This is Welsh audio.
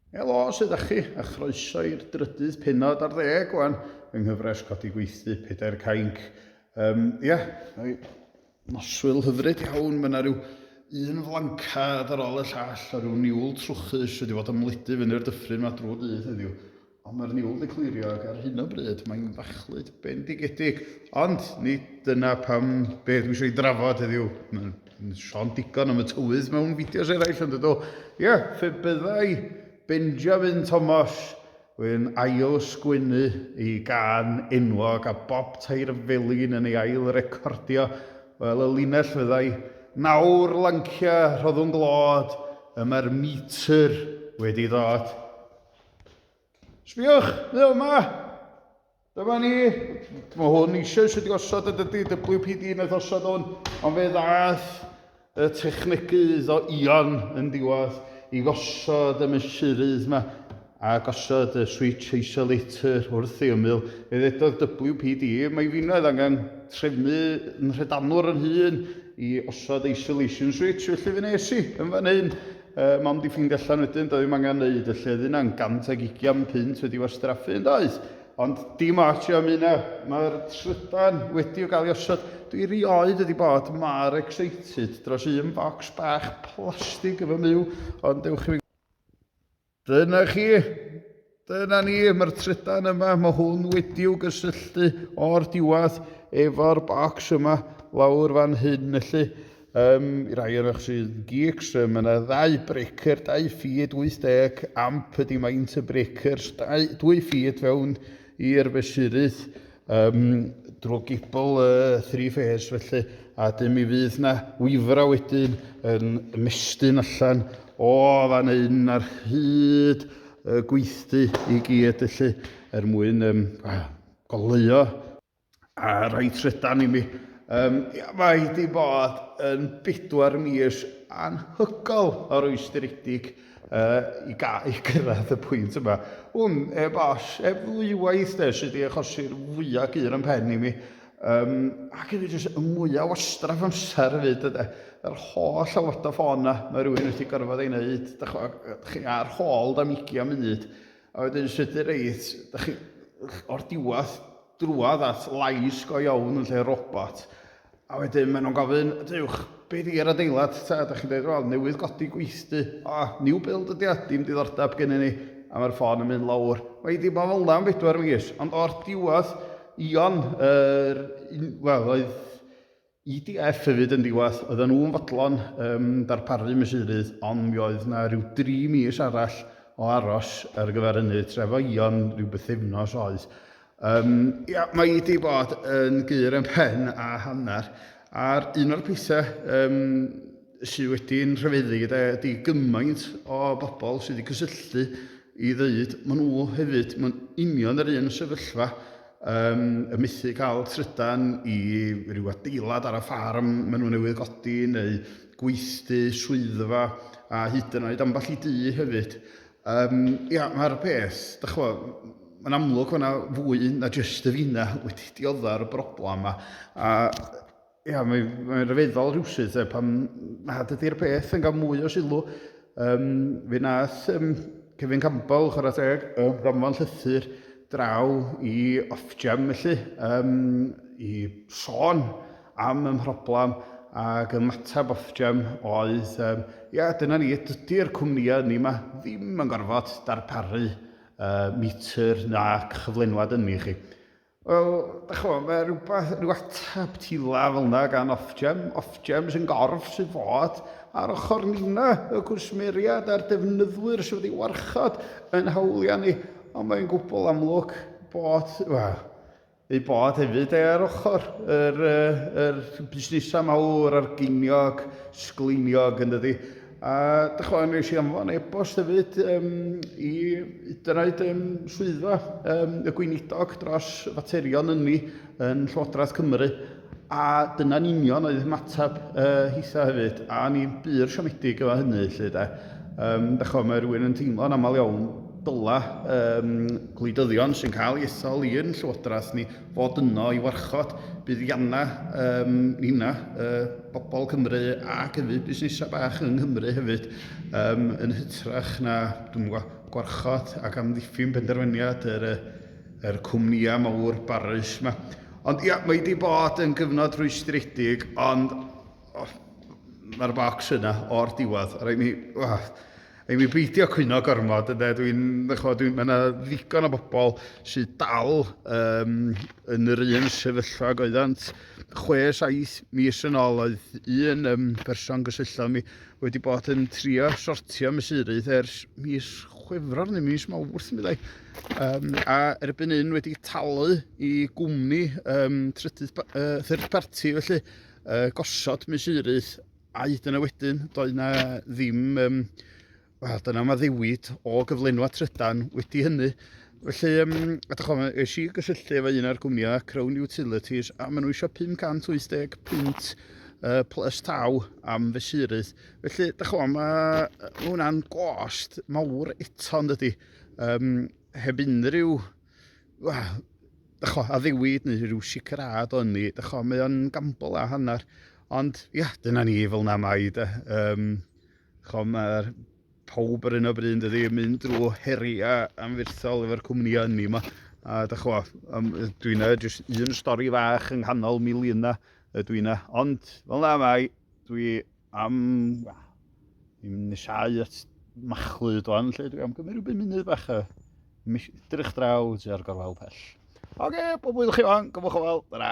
Helo, sydd â chi, a chroeso i'r drydydd penod ar ddeg o'n yng nghyfres Codi Gweithdy, Pedair Cainc. Um, ia, noswyl hyfryd iawn, mae yna rhyw un flancad ar ôl y llall a rhyw niwl trwchus wedi bod ymledu fyny'r dyffryn mae drwy dydd heddiw. Ond mae'r niwl wedi clirio ac ar hyn o bryd mae'n fachlud bendigedig. Ond nid dyna pam be dwi eisiau ei drafod heddiw. Mae'n sôn digon am y tywydd mewn fideos eraill ond ydw. Ie, yeah, fe byddai Benjamin Thomas yn ail sgwennu ei gan enwog a Bob Tair Felin yn ei ail recordio. Wel, y linell fyddai, nawr lancia, rhoddwn glod, y mae'r metr wedi dod. Sbiwch, neu yma! Dyma ni. Mae hwn eisiau sydd wedi osod y dydy WPD yn eith osod hwn, ond fe ddath y technegydd o Ion yn diwedd i gosod y mesurydd yma a gosod y switch isolator wrth ei ymyl. Fe ddedodd WPD, mae finnoedd angen trefnu yn rhedanwr yn hun i osod isolation switch, felly fe nes i yn fan hyn Yy, mam 'di ffeindio allan wedyn, doedd ddim angen neud y lleddyn na'n gant ag ugian punt wedi wastraffu yn does? Ond dim ots am hynna, mae'r trydan wedi o gael ei osod. Dwi rioed wedi bod mor excited dros un bocs bach plastig yn fy myw, ond dewch i fi. Dyna chi! Dyna ni, mae'r trydan yma, mae hwn wedi'w gysylltu o'r diwedd efo'r bocs yma lawr fan hyn, felly um, i rai o'n eich sy'n geeks, um, mae yna ddau breaker, dau ffid, 80 amp ydi maint y breakers, dau, dwy ffid fewn i'r fesurydd, Ym drwy gibl y three phase felly a dyn mi fydd na wifra wedyn yn mestyn allan o fan hyn ar hyd y gweithdy i gyd felly er mwyn um, goleuo a rhoi trydan i mi. Um, ia, mae di bod yn bedwar mis anhygol o rwystredig yy, i gael i gyrraedd y pwynt yma. Wn, heb all, heb ddwywaith de, sydd wedi achosi'r fwya gur yn pen i mi. Um, ac hefyd jyst y mwyaf wastraff amser hefyd yde. Yr holl awod o ffôn na, mae rhywun wedi gorfod ei wneud, da chi ar hôl da migi am munud. A wedyn sydd wedi reid, da chi o'r diwedd drwodd at lais go iawn yn lle robot, a wedyn maen nhw'n gofyn, dewch, be di yr adeilad ta? Dach chi'n dweud, wel, newydd godi gweithdy. O, new build ydi o, dim diddordeb gennyn ni. A mae'r ffôn yn mynd lawr. Mae wedi bod fel yna am bedwar mis, ond o'r diwedd, Ion, yr, wel, oedd IDF hefyd yn ddiwedd. Oedden nhw'n fodlon yym darparu mesurydd ond mi oedd 'na ryw dri mis arall o aros ar gyfer hynny, trefaion ryw bythefnos oedd. Yym ia, mae hi 'di bod yn gur yn pen a hanner, a'r un o'r pethau yym sydd wedi'n rhyfeddu gyda ydy gymaint o bobl sydd wedi cysylltu i ddeud, maen nhw hefyd, mae'n union yr un sefyllfa Ym mythu cael trydan i ryw adeilad ar y ffarm maen nhw newydd godi neu gweithdy, swyddfa a hyd yn oed ambell i dŷ hefyd. Yym ia, mae'r peth, dych chimod, mae'n amlwg bod yna fwy na jyst y fina wedi diodda'r broblem 'ma a Ia, mae'n mae rhyfeddol rhywsut e, pan nad ydy'r peth yn cael mwy o sylw. Um, fe nath um, Kevin Campbell, chwarae teg, y ddanfon llythyr draw i Ofgem felly, um, i sôn am y mhroblam ac y matab Ofgem oedd, um, ia, dyna ni, dydy'r cwmnïau ni yma ddim yn gorfod darparu uh, metr na chyflenwad ynni chi. Wel, da chi fod, mae rhywbeth, rhyw ateb tila fel yna gan Ofgem. Ofgem sy'n gorff sydd fod ar ochr nina y cwsmeriad a'r defnyddwyr sydd wedi warchod yn hawliau ni. Ond mae'n gwbl amlwg bod, wel, ei bod hefyd e ar ochr yr, yr busnesau mawr a'r geiniog, sgleiniog yn dydy. A dych chwa, nes i anfon e-bost hefyd um, i dynaid um, swyddfa um, y gweinidog dros faterion ynni yn Llywodraeth Cymru a dyna'n union oedd ymateb uh, hitha hefyd a ni'n bur siomedig efo hynny lle de. Um, dych chwa, mae rhywun yn teimlo'n aml iawn dyla um, gwleidyddion sy'n cael ei ethol i'n Llywodraeth ni fod yno i warchod buddiannau um, nina, uh, bobl Cymru ac hefyd busnesau bach yng Nghymru hefyd um, yn hytrach na dwi'n gwarchod ac amddiffyn penderfyniad yr, yr cwmnïau mawr barus yma. Ond ia, mae wedi bod yn gyfnod rhwystredig, ond Oh, Mae'r bocs yna o'r diwedd. Rhaid mi... Oh, Rhaid mi beidio cwyno gormod ynde. Dwi'n... Dwi, mae yna ddigon o bobl sydd dal um, yn yr un sefyllfa ag oeddant. Chwe, saith mis yn ôl oedd un um, person gysylltodd mi wedi bod yn trio sortio mesurydd ers mis chwefror neu mis mawrth mi ddau. Um, a erbyn un wedi talu i gwmni um, trydydd uh, third party felly uh, gosod mesurydd a hyd yna wedyn doedd yna ddim um, wel dyna mae ddewid o gyflenwa trydan wedi hynny felly um, a dych chi'n eisiau i gysylltu efo un o'r gwmnïau Crown Utilities a maen nhw eisiau 580 pint uh, plus taw am fesurydd felly dych chi'n mae hwnna'n gost mawr eto yn dydy um, heb unrhyw well, dycho, addewiwyd neu rhyw sicrhad o'n ni. Dycho, mae o'n gambl a hanner. Ond, ia, yeah, dyna ni fel na mai. De. Um, dycho, mae'r pawb ar un o bryd ydy yn mynd drwy heriau anfyrthol efo'r cwmnïau ni yma. A dycho, um, dwi'n e, jyst un stori fach yng nghanol miliynau y dwi'n e. Ond, fel na mai, dwi am i'n nesau at machlud o'n lle dwi am gymryd rhywbeth munud bach a drych draw tua'r gorwel pell. Oce, okay, pob wyddwch chi o'n, gymwch o fel, dyna.